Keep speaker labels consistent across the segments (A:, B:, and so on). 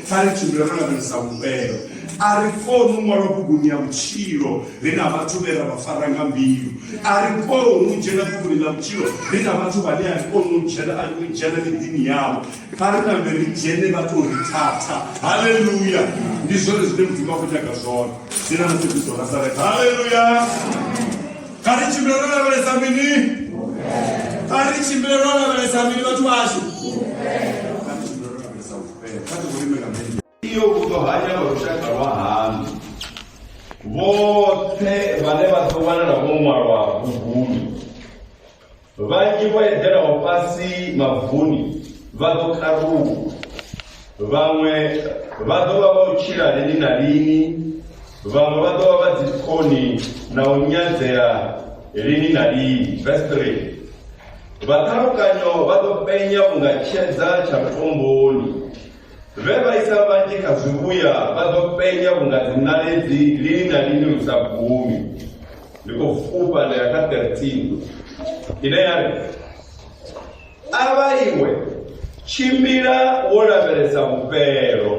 A: kha ri tshimbile ro lavhelesa vhufhelo a ri koni u ṅwalwa buguni ya vhutshilo ri na vhathu vhe ra vha fara nga mbilu a ri koni u dzhena buguni ḽa vhutshilo ri na vhathu vhane a ri koni u dzhena a ri dzhena miḓini yavho kha ri nambe ri dzhene vha tou ri thatha haleluya ndi zwone zwine mudzimu a khou nyaga zwone ndi na mutshekristo nasareta haleluya kha ri tshimbile ro lavhelesa mini kha ri tshimbile ro lavhelesa mini vhathu vhashu iyo u ḓo hanya vha lushaka lwa haṋu vhoṱhe vhane vha ḓo wanala vho ṅwalwa buguni vhanzhi vho eḓelaho fhasi mavuni vha ḓo karuwa vhaṅwe vha ḓo vha vha u tshila lini na lini vhaṅwe vha ḓo vha vha dzikhoni na u nyadzea lini na lini verse 3 Vhaṱhalukanyo vha ḓo penya vhunga tshedza tsha tomboni, vhe vha isa vhanzhi kha zwivhuya vha ḓo penya vhunga dziṋaledzi lini na lini lu sa gumi. Ndi khou fhufha nda ya kha 13 ine ya ri, A vha iwe Tshimbila wo lavhelesa vhufhelo,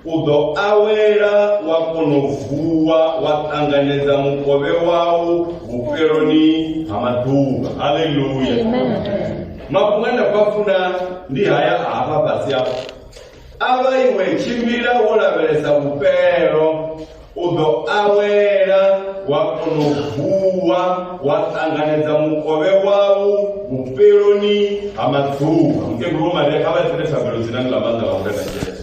A: u ḓo awela wa kono vuwa wa ṱanganedza mukovhe wau vhufheloni ha maḓuvha. Haleluya. Mafhungo ane nda khou funa ndi haya a hafha fhasi afha. A vha iwe tshimbila wo lavhelesa vhufhelo, u ḓo awela wa kona u vuwa wa ṱanganedza mukovhe wau vhufheloni ha maḓuvha mukegulu maria kha vha tsele thabelo dzinani ḽa maanḓa vha murena jesu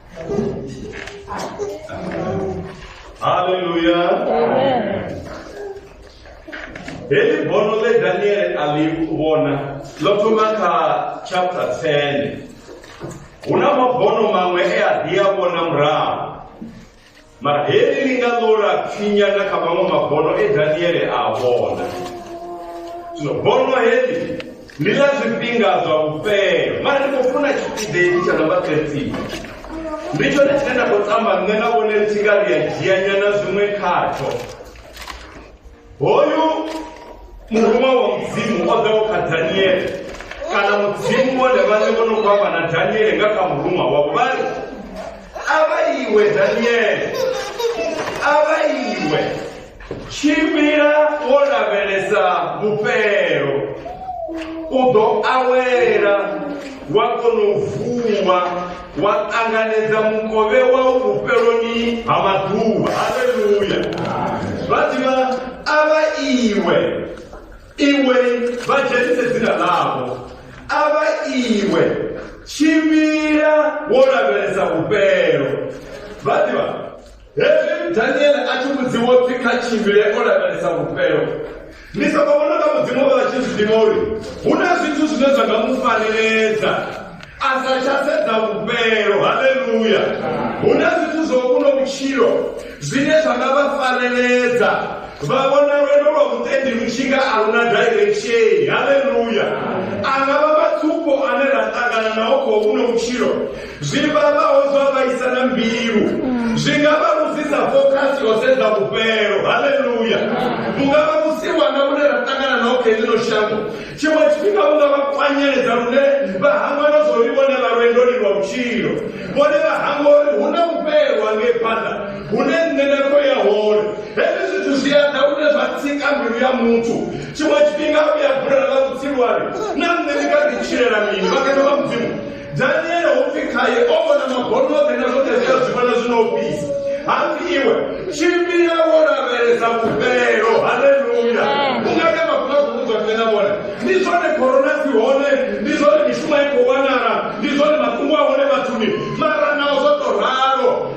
A: Hallelujah. Amen. Heli bono le Daniel alivona lo thoma kha chapter 10. Huna mabono maṅwe e a ḓi a vhona murahu. Mara heli ḽi nga ḽo lapfinya na kha maṅwe mabono e Daniele a vhona. Zwino bono heli ndi ḽa zwifhinga zwa vhufhelo mara ndi khou funa tshipiḓa hetshi tsha namba 13 ndi tshone tshine nda khou tamba nṋe na vhone ri tshi nga ri a dzhianyana zwiṅwe khatsho hoyu murume wa mudzimu o ḓaho kha daniele kana mudzimu vhone vhane vho no khou amba na daniele nga kha muruṅwa wavho vha ri a vha iwe daniele a vha iwe tshimbila wo lavhelesa vhufhelo u ḓo awela wa kona u vuwa wa ṱanganedza mukovhe wau vhufheloni ha maḓuvha haleluya vha ḓivha a vha iwe iwe vha dzhenise dzina ḽavho a vha iwe tshimbila wo lavhelesa vhufhelo vha ḓivha hezwi daniele a tshi vhudziwa upfi kha tshimbile o lavhelesa vhufhelo ni soko vhona nga mudzimu vha tshi zwi ḓivha uri hu na zwithu zwine zwa nga mu fareledza a sa tsha sedza vhufhelo haleluya hu na zwithu zwo kuno vhutshilo zwine zwa nga vha fareledza vha vhona lwendo lwa vhutendi lu tshi nga a luna direction haleluya a nga vha matsupho ane ra ṱangana nao khou kuno vhutshilo zwi vhavhaho zwa vhaisa na mbilu zwi nga vha vhusisa focus yo sedza vhufhelo haleluya vhu nga vha vhusiwana vhune ra ṱangana naho kha ḽino shango tshiṅwe tshifhinga vhu nga vha kwanyeledza lune vha hangwa na zwo ri vhone vha lwendoni lwa vhutshilo vhone vha hangwa uri hu na vhufhelo hangei phanḓa hune nṋe na khou ya hone hezwi zwithu zwi a ḓa lune zwa tsika mbilu ya muthu tshiṅwe tshifhinga u ya bulela ḽa vhutsilwani na nṋe ndi kha ḓi tshilela mini vhakene vha mudzimu daniele ho pfi khaye o vhona mabono oṱhe na zwoṱhe zwi a zwi vhona zwino u fhisa hapfi iwe tshimbila wo lavhelesa vhufhelo haleluya u nga ita mafhungo a khou vhudzwa nṋe na vhone ndi zwone khorona si hone ndi zwone mishumo i khou wanala ndi zwone mafhungo a hone vhathuni mara nao zwo to ralo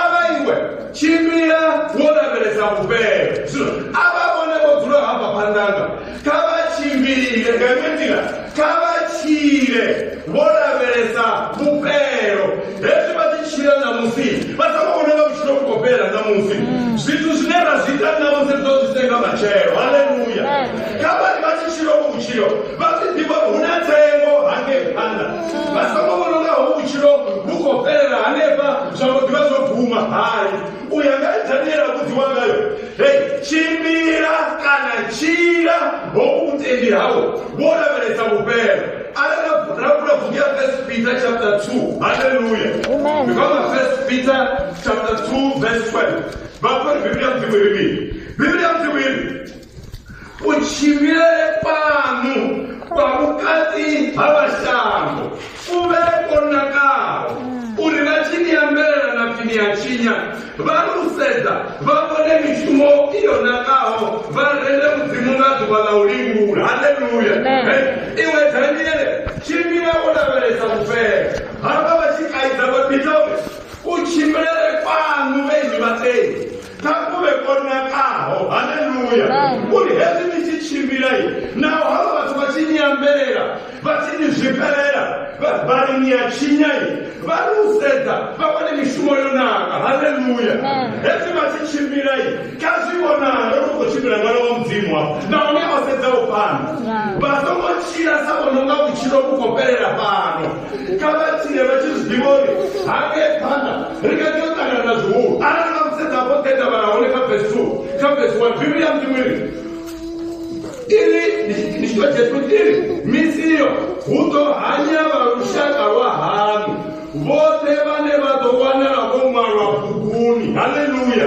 A: ava iwe tshimbila wo lavhelesa vhufhelo zwino ava vhone vho dzula hafha phanḓanga kha vha tshimbile nga iṅwe nḓila kha vha tshile vho lavhelesa vhufhelo hezwi vha ḓi tshila ṋamusi vha songo vhona nga vhutshilo vhu khou fhela ṋamusi zwithu zwine ra zwi ita ṋamusi ri ḓo zwi senga matshelo haleluya kha vhari vha tshi tshilo vhutshilo vha ḓi ḓivha hu na tsengo hangei phanḓa vha songo vhona unga hovhu vhutshilo vhu khou fhelela hanefha zwa mbo ḓivha zwo bvuma hai u ya nga daniela vhudziwa ngayo he tshimbila kana tshila hovhu vhutendi hau wo lavhelesa vhufhelo arali ra vula buku ya first peter chapter 2 haleluya ndikwama
B: first peter
A: chapter 2 verse 12 vhafhori biblia mdzimu iri mini biblia mdzimu iri utshivhile fhanu kwa vhukati ha vhashango u vhe vho nakaho uri vha tshi ni ambelela na pfi ni a tshinya vha lu sedza vha vhone mishumo i yo nakaho vha rende mudzimu nga ḓuvha ḽa u livhula haleluya iwe daniele tshimbila wo lavhelesa vhufhela hafha vha tshi kaidza vha bitobe u tshimbilele fhanu vhenyi vhatei kha kule ko nakaho haleluya uri hezwi ni tshi tshimbila naho havha vhathu vha tshi nyambelela vha tshi ni zwifhelela vhavhali ni ya tshinya vha ri u sedza vha vhone mishumo yo naka haleluya hezwi vha tshi tshimbila kha zwi vhonala ri khou tshimbila ṅwana wa mudzimu wa nahone a sedza u fhana vha songo tshila sa vhononga vhutshilo vhu khou fhelela fhano kha vha tshile vha tshi zwi ḓivha uri hangei phanḓa ri nga tea u ṱangana na zwihulu arali vha musedza vho ḓedza vhala hone kha vesi two kha vesi one bivhili ya mudzimu iri iri ndi tshitwa jesu iri misi iyo hu ḓo hanya vha lushaka lwa hanu vhoṱhe vhane vha ḓo wanala vho ṅwalwa buguni haleluya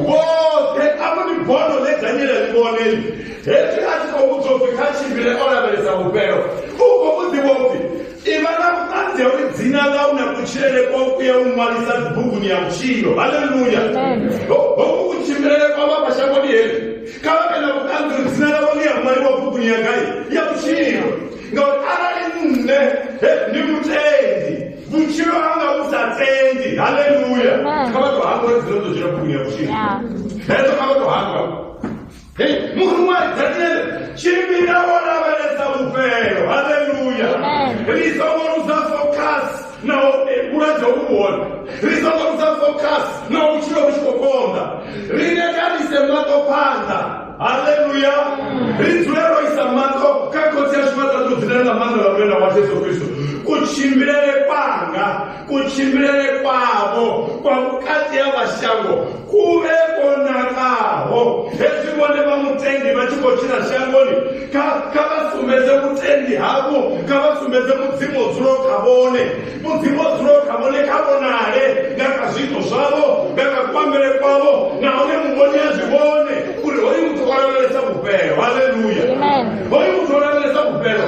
A: vhoṱhe a vho ni bono ḽe daniela ḽi vhoneli hezwi a tshi khou vhudzwa upfi kha tshimbile o lavhelesa vhufhelo u khou vhuḓivha upfi ivha na vhuṱanzi ha uri dzina ḽau na kutshilele kwau ku ya u ṅwalisa dzibuguni ya vhutshilo haleluya hoku kutshimbilele kwa vha mashangoni heli kha vha vhe na vhuṱanzi uri dzina ḽavho ḽi ya ṅwaliwa buguni ya gai ya vhutshilo ngauri arali nṋe ndi mutendi vhutshilo hanga vhu sa tendi haleluya kha vha to hangwa uri dzina ḽo dzula buguni ya vhutshilo hedzo kha vha to hangwa Hei, muhulwane Daniele, tshimbila wo lavhelesa vhufhelo. Haleluya. Ri songo luza focus na u eh, vhulwadze hu hone. Ri songo luza focus na u tshilo vhu tshi khou konḓa. Ri lekanise maṱo phanḓa. Haleluya. Ri dzule ro isa maṱo kha khotsi ashu vha ṱaḓu dzine na maanḓa vha murena wa Jesu Kristo. Kutshimbilele kwanga kutshimbilele kwavho kwa vhukati ha vhashango ku vhe kwo nakaho hezwi vhone vha mutendi vha tshi khou tshila shangoni kha kha vha sumbedze vhutendi havho kha vha sumbedze mudzimu o dzulaho kha vhone mudzimu o dzulaho kha vhone kha vhonale nga kha zwiito zwavho nga kha kuambele kwavho nahone muvhoni a zwi vhone uri hoyu muthu o lavhelesa vhufhelo haleluya Amen. hoyu muthu
B: o lavhelesa
A: vhufhelo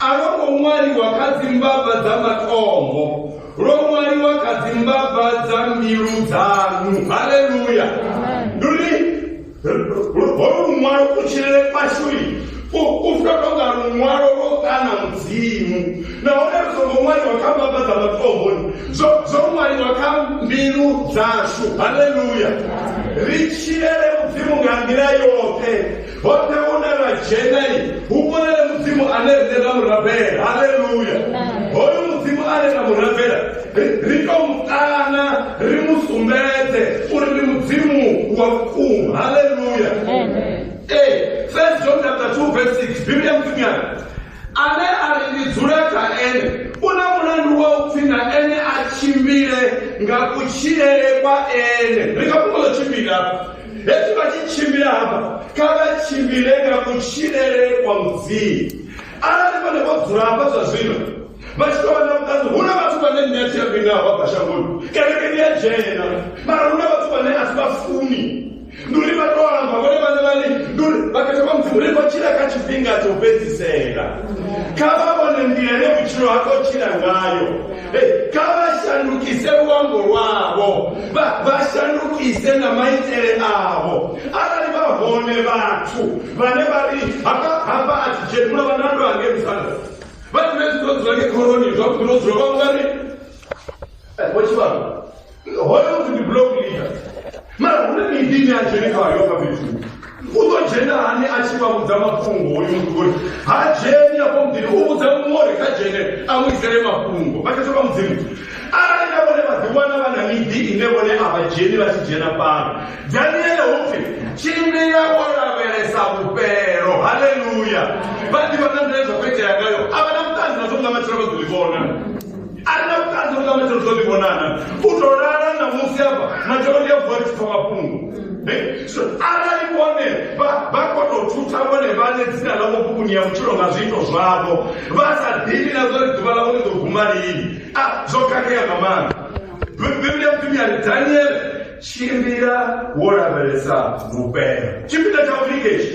A: A lwo ngo ṅwaliwa kha dzimbava dza matombo, lwo ṅwaliwa kha dzimbava dza mbilu dzanu. Haleluya! Ndi uri holu luṅwalo kutshilele kwashu u funa tou nga luṅwalo lwo kana mudzimu nahone lu songo ṅwaliwa kha mbava dza matomboni zwo zwo ṅwaliwa kha mbilu dzashu haleluya ri tshilele mudzimu nga nḓila yoṱhe hoṱhe hune ra dzhenai hu vhonele mudzimu ane rine ra mu rabela halleluya hoyu mudzimu ane ra mu rabela ri to mu kana ri mu sumbedze uri ndi mudzimu wa vhukuma halleluya ee first john chapter 2 verse 6 biblia mudzimunyana ane a ri ndi dzule kha ene u na mulandu wa u pfi na ene a tshimbile nga kutshilele kwa ene ri nga fhungo ḽo tshimbila hezwi vha tshi tshimbila hafha kha vha tshimbile nga kutshilele kwa mudzimu arali vhone vho dzula hafha zwa zwino vha tshi tovha na vhuṱanzi hu na vhathu vhane nṋe a thi a mbinga hafha bva shangoni kereke ndi a dzhena mara hu na vhathu vhane a si vha funi ndi uri vha to amba vhone vhane vhane ndi uri vha khetha vha mudzimu ri khou tshila kha tshifhinga tsho fhedzisela kha vha vhone nḓila ine vhutshilo ha khou tshila ngayo Hey, kha vha shandukise luambo lwavho vha vha shandukise na maitele avho arali vha hone vhathu vhane vha ri hafha hafha a thi dzheni muno vhanando ange msana vha dzule dzula dzula nge khoroni zwa vhuḓi no dzula vha ungari vho tshivhalo hoyo ndi block leader mara hune miḓini a dzhene khayo kha fhethu u ḓo dzhena hani a tshi vha vhudza mafhungo hoyu muthu uri ha dzheni afho muḓini u vhudza muṅwe uri kha dzhene a mu isele mafhungo vha khethwa vha mudzimu arali na vhone vhaḓiwana vha na miḓi ine vhone a vha dzheni vha tshi dzhena fhano daniele hupfi tshimbila o lavhelesa vhufhelo haleluya vha ḓivha na nḓila zwa khou itea ngayo a vha na vhuṱanzi nazwo nga matshelo vha ḓo ḽi vhona a ri na vhuṱanzi vhu ṱavhanyedza zwo ḓi vhonana u tou lala na musi afha matshelo ndi a vuwa tshi pfa mafhungo Eh, so arali vhone vha vha kono u thutha vhone vhane dzina ḽavho bukuni ya vhutshilo nga zwiito zwavho vha sa ḓivhi na zwa uri ḓuvha ḽavho ḽi ḓo guma lini a zwo khakhea nga maanḓa Bi- biblia mpimi ya ri daniele tshimbila wo lavhelesa vhupela tshifhinga tsha u lingetsha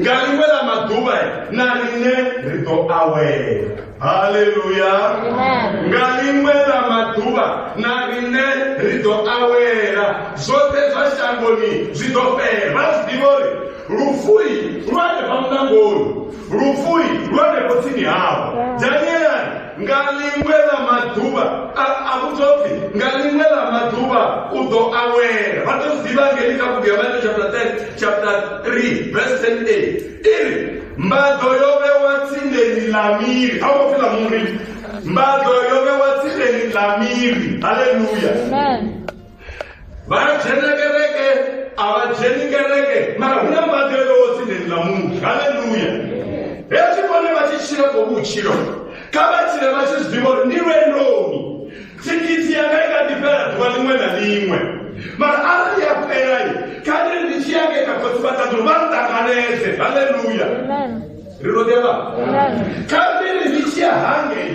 A: nga ḽiṅwe ḽa maḓuvha na riṋe ri ḓo awela haleluya nga ḽiṅwe ḽa maḓuvha na riṋe ri ḓo awela zwoṱhe zwa shangoni zwi ḓo fhela vha zwi ḓivha uri lufui lwa hanefha mulangoni lufui lwa hanefho tsini havo danielani nga ḽiṅwe ḽa maḓuvha a vhudzwa upfi nga ḽiṅwe ḽa maḓuvha u ḓo awela vha ḓo zwi ḓivha ngeli kha bugu ya mateo chapter 10 chapter 3 verse 10 a iri mbaḓo yo vhewa tsindeni ḽa miri a vho pfi ḽa muri mbaḓo yo vhewa tsindeni ḽa miri haleluya vana dzhena kereke a vha dzheni kereke mara hu na mbadelo wo tsindedza munhu haleluya hezwi vhone vha tshi tshila ko vhutshilo kha vha tshile vha tshi zwiḓivha uri ndi lwendoni thikhithi yanga i kha ḓi fhela ḓuvha ḽiṅwe na ḽiṅwe mara arali ya fhelai kha ndi ndi tshi yake kha khotsi vha ṱaḓulu vha nṱanganedze haleluya ri lo ḓevha kha ndi ndi tshi ya hangei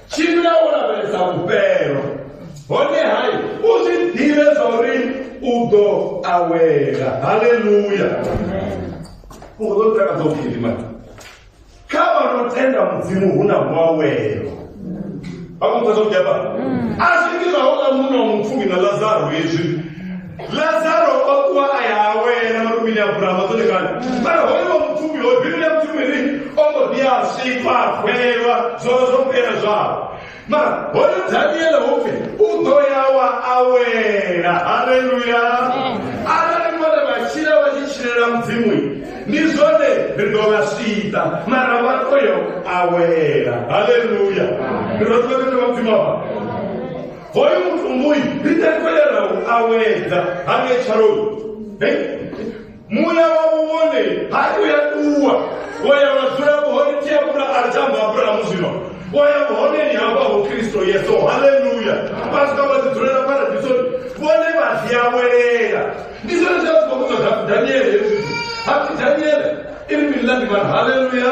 A: tshimbila wo lavhelesa vhufhelo hone hai u zwi ḓivhe zwa uri u ḓo awela haleluya u ḓo takadza u gidima kha vha no tenda mudzimu hu na muawelo vha kumudza zwa vhugeba a zwi ngi zwa hola muno mupfumi na lazaro hezwi lazaro o kuwa a ya awela malumini a burama dzone kani mara hoyo wa mupfumi hoyo biblia mupfumi ri o mbo ḓi a sikwa a fhelelwa zwolo zwo fhela zwao mara hoyo daniele hupfi u ḓo ya wa awela haleluya arali vhone vha tshila vha tshi tshilela mudzimu ndi zwone ri ḓo vha swiṱa mara vha ḓo yo awela haleluya ri ḓo ḓo ḓo vha mudzimu avha hoyo muthu muyi ri takalela u awedza ha ngetshaloni muya wavho wone ha uya ṱuwa wo ya wa dzula vhuhone tia vhula a tamba abrahamu zwino wo ya vhuhoneni hamba ho kristo yesu haleluya vha swika vha ḓi dzulela paradisoni vhone vha ḓi awelela ndi zwone zwa zwi khou vhudzwa kha daniele hezwi hapfi daniele iri mililani mani haleluya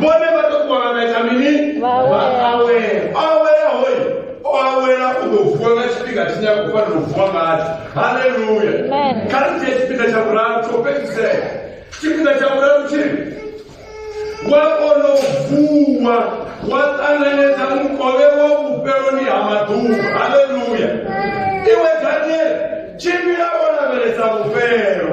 A: vhone vha tou wana vha ita mini Vha awela. awela awela hoyi o awela u ḓo vuwa nga tshifhinga tshine a khou fanela u vuwa ngatsho haleluya Amen. kha ri dzhie tshifhinga tsha vhuraru tsho fhedzisela tshifhinga tsha vhuraru tshiri wa kona u vuwa wa ṱanganedza mukovhe wa vhufheloni ha maḓuvha haleluya iwe daniele tshimbila wo lavhelesa vhufhelo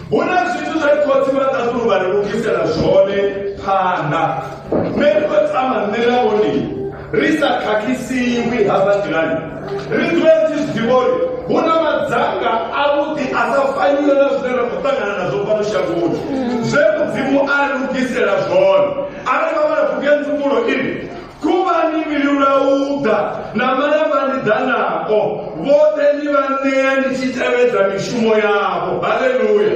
A: hu na zwithu zwe khotsi vha ṱaṱulu vha ri lugisela zwone phanḓa nṋe ndi khou tama nṋe na vhone ri sa khakhisiwi hafha nḓilani ri dzule ri tshi zwiḓivha uri hu na madzanga avhuḓi a sa faniwe na zwine ra khou ṱangana nazwo fhano shangoni zwe mudzimu a lugisela zwone arali vha vha na bugu ya nzumulo ini khuvhani vhilulauḓa na malavhani ḓanao vhoṱhe ni vha ṋea ni tshi tevhedza mishumo yavho haleluya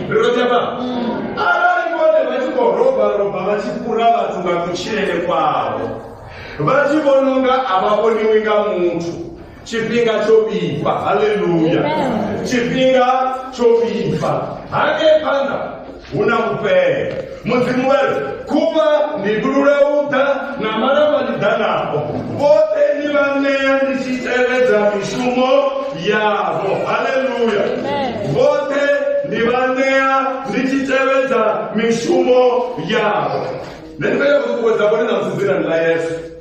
A: rirotyapa mm. arali vhone vha tshi khou robarova vha tshi fhura vhathu nga kutshilele kwavho vha tshi vhona unga a vha vhoniwi nga muthu tshifhinga tsho vhifha haleluya tshifhinga tsho vhifha hangei phanḓa hu na mufhele mudzimu wari khuvha ndi gulula uḓa na malamba ndi ḓanaho vhoṱhe ni vha ṋea ndi tshi tevhedza mishumo yavho haleluya vhoṱhe ndi vha ṋea ndi tshi tevhedza mishumo yavho nṋe ndi vhea kuṱuṱuwedza vhone na musi dzinani ḽa yesu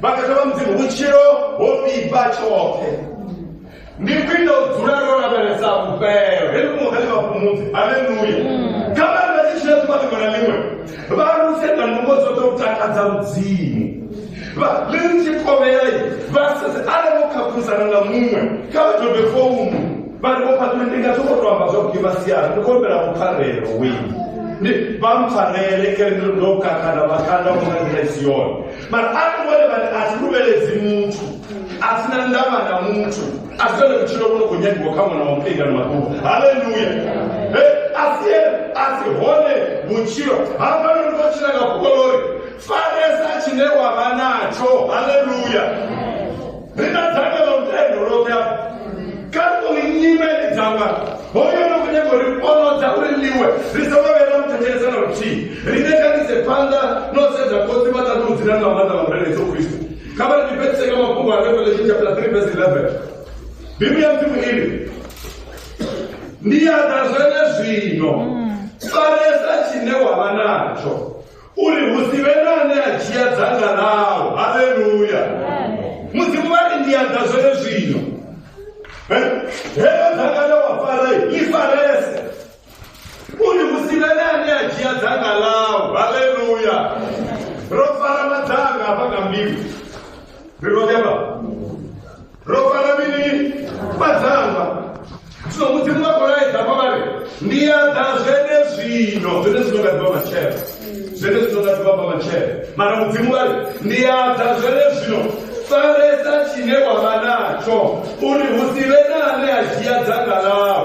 A: vha nga dovha mudzimu vhutshilo ho vhibva tshoṱhe ndi khwine u dzula ro lavhelesa vhufhelo he mu he vhafhumudzi haleluya mm. kha vhana tshi tshila ḓuvha ḽiṅwe na ḽiṅwe vha luse nga nungo dzoṱhe u takadza mudzimu vha ḽi tshi kovhela vha sedze arali vho khakhulisana nga muṅwe kha vha dobe founu vha ri vho phaṱule ndi nga zwo khou to amba zwa kugima siana ndi khou humbela vhupfarelo wenu vha mpfarele kere ndo kakhala vhakanda vho nga nḓila i si yone mara a ri vhone vhane a si luvheledzi muthu a si na ndavha na muthu a si tone vhutshilo vhu no khou nyagiwa kha ṅwana wa muṱingani maṱuku haleluya a si a si hone vhutshilo hafha no ndi khou tshila nga fhukolo uri faresa tshine wa vha natsho haleluya ri na dzangalelo lutendo lwoṱhe afho kha ri ṱoḓi nyimele dza wana hoyo no khou nyaga uri onodza uri liwe ri sa vha vhela muthetshelesa na luthihi rine kha ri se phanḓa no sedza khotsi vha ṱaḓi u dzina na maanḓa vha murena yesu kristo kha vha ri ḓifhedzise kha mafhungo a revelation chapter 3 verse 11 biblia ya mdzimu iri ndi ya ḓa zwene zwino faresa tshine wa vha natsho uri hu si vhe na ane a dzhia dzanga ḽau haleluya mudzimu vha ri ndi anda zwene zwino heyo dzanga ḽe wa fara ḽi farese uri hu si vhe na ane a dzhia dzanga ḽau haleluya ro fara madzanga hafha nga mbilu ri ro ro fara mini vhadzangwa zwino mudzimu wa kolaedza vha vhale ndi ya ḓa zwene zwino zwene zwino nga ḓivha matshelo zwene zwino nga ḓivha bva matshelo mara mudzimu vhale ndi ya ḓa zwene zwino faresa tshine wa vha natsho uri hu si vhe na ane a dzhia dzanga ḽao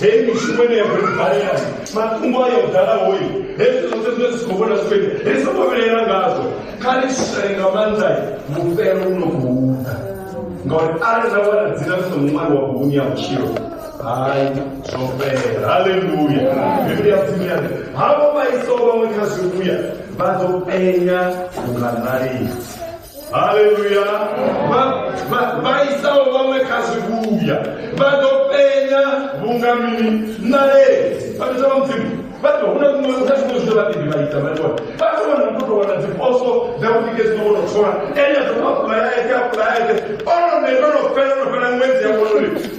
A: heyi mishumo ine ya khou balela matungo ayo dalahoyi hezwi zwoṱhe zwine zwi khou vhona zwi khou ri songo vhilela ngazwo kha ri shushane nga maanḓa vhufhelo vhu no khou ḓa ngauri arali ra wana dzina ri songo ṅwaliwa buguni ya vhutshilo hai zwo fhela haleluya bivhili ya mudzimu ya ri havho vha iso vhaṅwe kha zwivhuya vha ḓo penya vhunga ṋalisi haleluya vhaisaho vhaṅwe kha zwivhuya vha ḓo penya vhunga mini nae vhaita vha mudzimu vha ḓo huna kuṅwe kha zwiṅwe zwine vhaḓibi vha ita vha ṱola vha ḓo wana u tou wana dziposo dza vhudike dzino vho no thola ene ḓo apulayaeke apulayaeke ono ne no no fela no fela ṅwedzi ya vhonori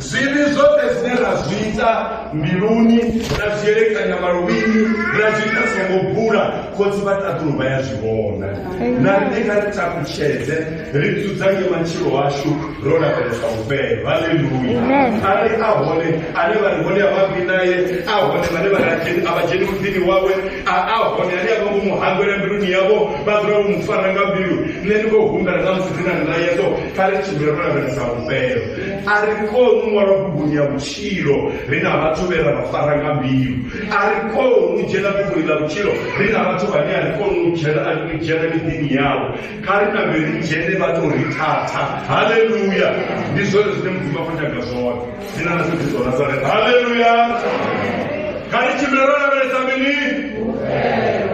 A: Zwivhi zwoṱhe zwine ra zwi ita mbiluni, ra zwi elekanya maluvhini, ra zwi ita songo bula, khotsi vha ṱaḓulu vha ya zwi vhona. Na riṋe kha ri takutshedze, ri dzudzanye matshilo ashu ro lavhelesa vhufhelo. Haleluya! Arali a hone ane vha ri hone a vha bvi nae, a hone vhane vha ri a dzheni- a vha dzheni muḓini wawe, a a hone ane a vha vho mu hangwela mbiluni yavho, vha dzula vho mu fara nga mbilu, nṋe ndi khou humbela na musi dzi na ndayedzo, kha ri tshimbile ro lavhelesa vhufhelo. a ri koni wa lwabuguni ya vhutshilo ri na vhathu vhe ra vha fara nga mbilu a ri koni u dzhena buguni ḽa vhutshilo ri na vhathu vhane a ri koni u dzhena a ri dzhena miḓini yavho kha ri na vhe ri dzhene vha tou ri thatha haleluya ndi zwone zwine mudzimu a khou nyaga zwone ndi na nasi kristo nazareta haleluya kha ri tshimbile ro lavhelesa mini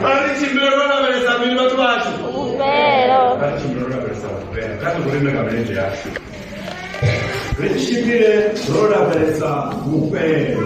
A: kha ri tshimbile ro lavhelesa mini vhathu vhashu kha ri tshimbile ro lavhelesa vhufhela kha ri hu rime nga milenzhe yashu Ri tshimbile ro lavhelesa vhufhelo.